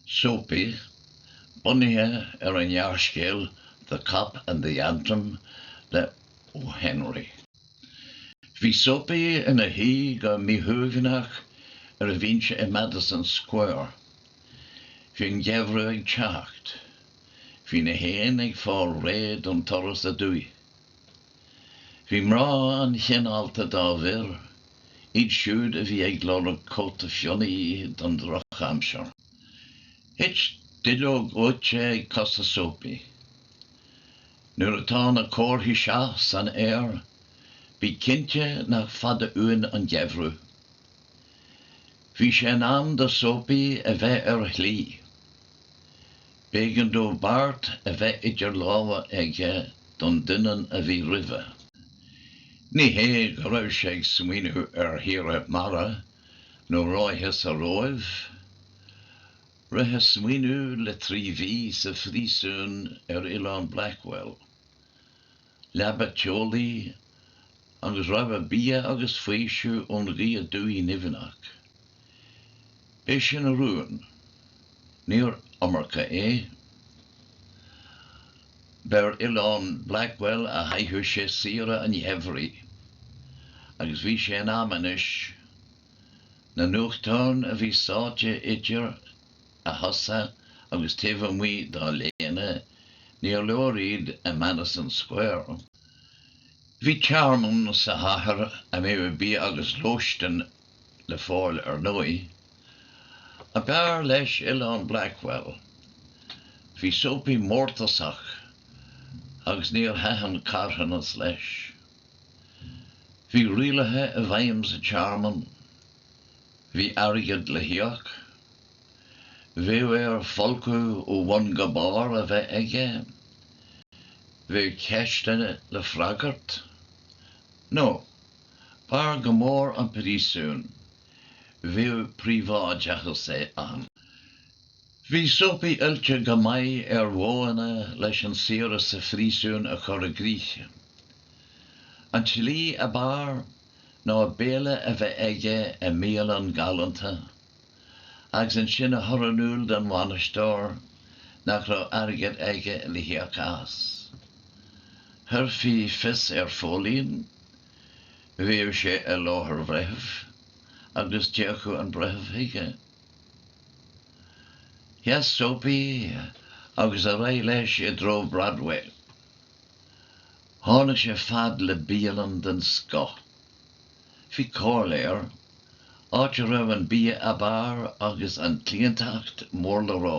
Soapy, bunaithe ar an ngearrscéal The Cop and the Anthem le O. Henry. Bhí Soapy ina shuí go míshuaimhneach ar a bhinse i Madison Square. Bhí an geimhreadh ag teacht. Bhí na héin ag fáil réidh don turas aduaidh. Bhí mná an-chineálta dá bhfir, iad siúd a bhí ag lorg cóta fionnaidh don drochaimsir. Thit duilleog dhóite ag cosa Soapy. Nuair atá na comharthaí seo san aer, bí cinnte nach fada uainn an geimhreadh. Bhí sé in am do Soapy a bheith ar a shlí. B'éigean dó beart a bheith idir lámha aige don doineann a bhí roimhe. Ní hé go raibh sé ag smaoineamh ar shaoire mara nó ráithe sa Róimh. Rith a smaoineamh le trí mhí sa phríosún ar Oileán Blackwell. Leaba teolaí agus rogha bia agus faoiseamh ón ghaoth aduaidh nimhneach. B'é sin a rún. Níor iomarca é. B'ar Oileán Blackwell a chaitheadh sé saoire an gheimhridh. Agus bhí sé in am anois. Na nuachtáin a bhí sáite idir a chosa agus taobh amuigh dá léine níor leor iad i Madison Square. Bhí tearmann sa chathair a mbeadh bia agus lóistin le fáil ar ndóigh. Ach b'fhearr leis Oileán Blackwell. Bhí Soapy mórtasach agus níor thaitin carthanas leis. Bhí rialacha i bhfeidhm sa tearmann. Bhí airgead le híoc. Bheadh air folcadh ó bhun go barr a bheith aige. Bheadh ceisteanna le freagairt. Nó, b'fhearr go mór an príosún. Bheadh príobháideachas aige ann. Bhí Soapy oilte go maith ar mhodhanna leis an saoire sa phríosún a chur i gcrích. An tslí ab fhearr ná béile a bheith aige i mbialann galánta. agus ansin a chur in iúl don bhainisteoir nach raibh airgead aige le híoc as. Chuirfí fios ar phóilín, bheadh sé i láthair bhreithimh agus d'fhéachfadh an breitheamh chuige. Sheas Soapy agus ar aghaidh leis i dtreo Broadway. Tháinig sé fad le bialann den scoth. Bhí, comhairle air, áit a raibh an bia ab fhearr agus an cliantacht mór le rá.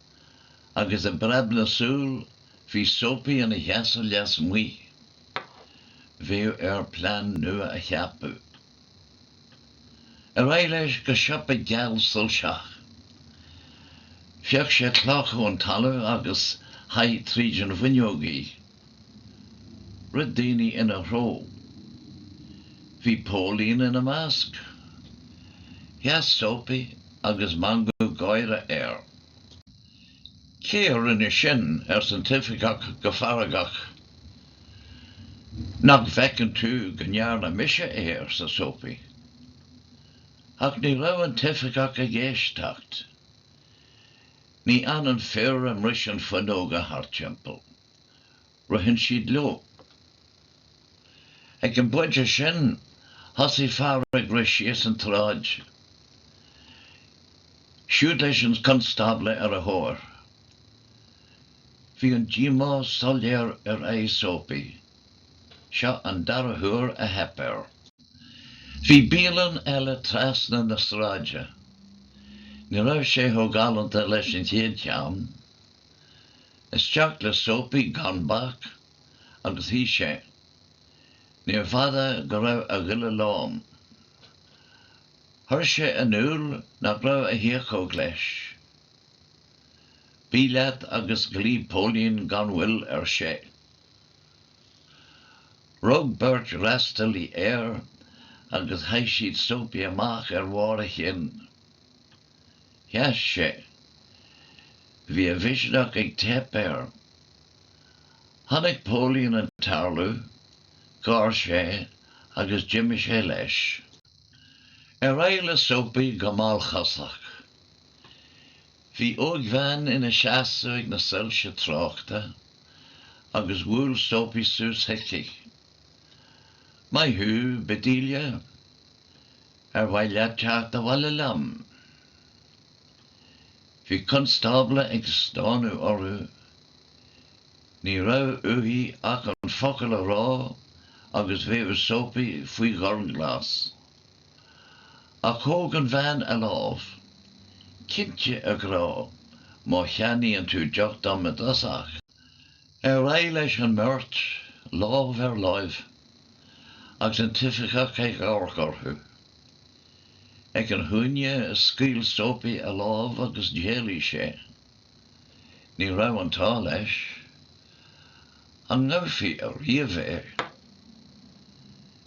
agus i bpreab na súl bhí Soapy ina sheasamh leasmuigh. Bheadh air plean nua a cheapadh. Ar aghaidh leis go siopa geal soilseach. Phioc sé cloch ón talamh agus chaith tríd an bhfuinneog í. Rith daoine ina threo. Bhí póilín ina measc. Sheas Soapy agus meangadh gáire air. Cé a rinne sin? arsa an t-oifigeach go feargach. Nach bhfeiceann tú go ndearna mise é? arsa Soapy. Ach ní raibh an t-oifigeach ag éisteacht. Ní fhanann fir a mbriseann fuinneoga thart timpeall. Ritheann siad leo. Ag an bpointe sin, thosaigh fear ag rith síos an tsráid, siúd leis an chonstábla ar a thóir. Bhí an díomá soiléir ar aghaidh Soapy. Seo an dara huair a theip air. Bhí bialann eile trasna na sráide. Ní raibh sé chomh galánta leis an chéad cheann. Isteach le Soapy gan bac agus shuigh sé. Níor bhfada go raibh a ghoile lán. Chuir sé in iúl nach raibh a thiachóg leis. Bí leat agus glaoigh póilín gan mhoill ar sé. Rug beirt fhreastalaí air agus chaith siad Soapy amach ar bharr a chinn. Sheas sé. Bhí a mhisneach ag teip air. Chonaic póilín an tarlú, gháir sé agus d'imigh sé leis. Ar aghaidh le Soapy go mallchosach. Bhí ógbhean ina seasamh ag na soilse tráchta agus bhuail Soapy suas chuici. Maith thú, Bedelia. Ar mhaith leat teacht abhaile liom? Bhí constábla ag stánadh orthu. Ní raibh uaithi ach an focal a rá agus bheadh Soapy faoi ghormghlas. Ach thóg an bhean a lámh. Cinnte, a ghrá, má cheannaíonn tú deoch dom i dtosach. Ar aghaidh leis an mbeirt, lámh ar láimh, agus an t-oifigeach ag amharc orthu. Ag an chúinne, scaoil Soapy a lámh agus d'éalaigh sé. Ní raibh an t-ádh leis. An ngabhfaí ariamh é?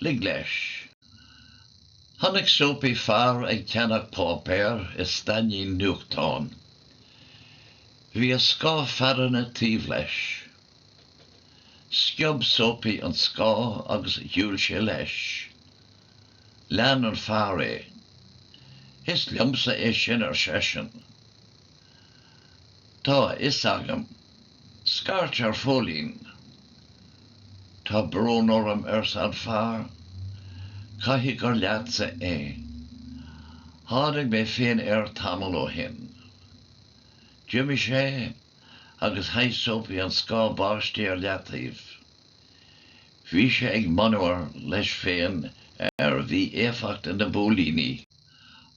Lig leis. Chonaic Soapy fear ag ceannach páipéir i stainnín nuachtáin. Bhí a scáth fearthainne taobh leis. Sciob Soapy an scáth agus shiúil sé leis. Lean an fear é. Is liomsa é sin ar seisean. Tá a fhios agam. Scairt ar Phóilín. Tá brón orm arsa an fear, caithfidh gur leatsa é. Tháinig mé féin air tamall ó shin. D'imigh sé agus chaith Soapy an scáth báistí ar leataobh. Bhí sé ag monabhar leis féin ar mhí-éifeacht na bpóilíní.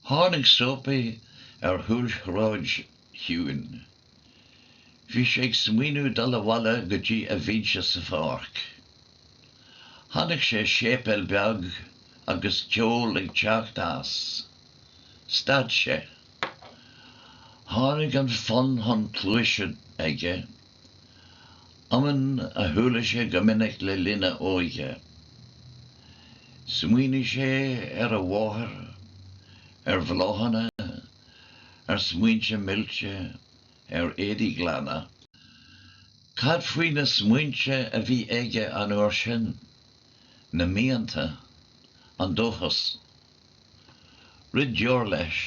Tháinig Soapy ar chúlsráid chiúin. Bhí sé ag smaoineadh dul abhaile go dtí a bhinse sa pháirc. Chonaic sé séipéal beag agus ceol ag teacht as. Stad sé. Tháinig an fonn chun cluaise aige, iomann a chuala sé go minic le linn a óige. Smaoinigh sé ar a mháthair, ar bhláthanna ar smaointe milse, ar éadaí glana. Cad faoi na smaointe a bhí aige an uair sin? Na mianta? An dóchas? Rith deoir leis.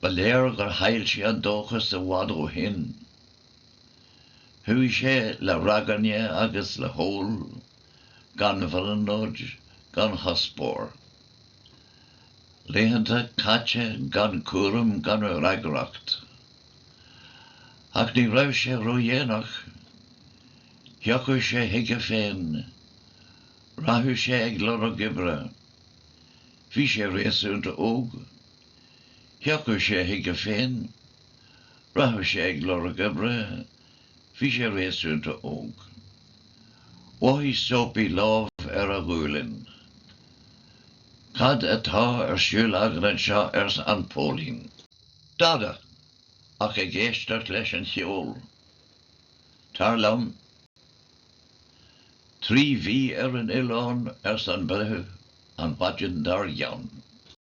Ba léir gur chaill sé an dóchas i bhfad ó shin. Chuaigh sé le ragairne agus le hól, gan bhrionglóid, gan chuspóir. Laethanta caite gan cúram gan fhreagracht. Ach ní raibh sé ródhéanach. Thiocfadh sé chuige féin. Rachadh sé ag lorg oibre. Bhí sé réasúnta óg. Thiocfadh sé chuige féin. Rachadh sé ag lorg oibre. Bhí sé réasúnta óg. Mhothaigh Soapy lámh ar a ghualainn. Cad atá ar siúl agat anseo arsa an póilín. Dada, ach ag éisteacht leis an cheol. Tar liom. Trí mhí ar an oileán arsa an breitheamh an mhaidin dár gcionn.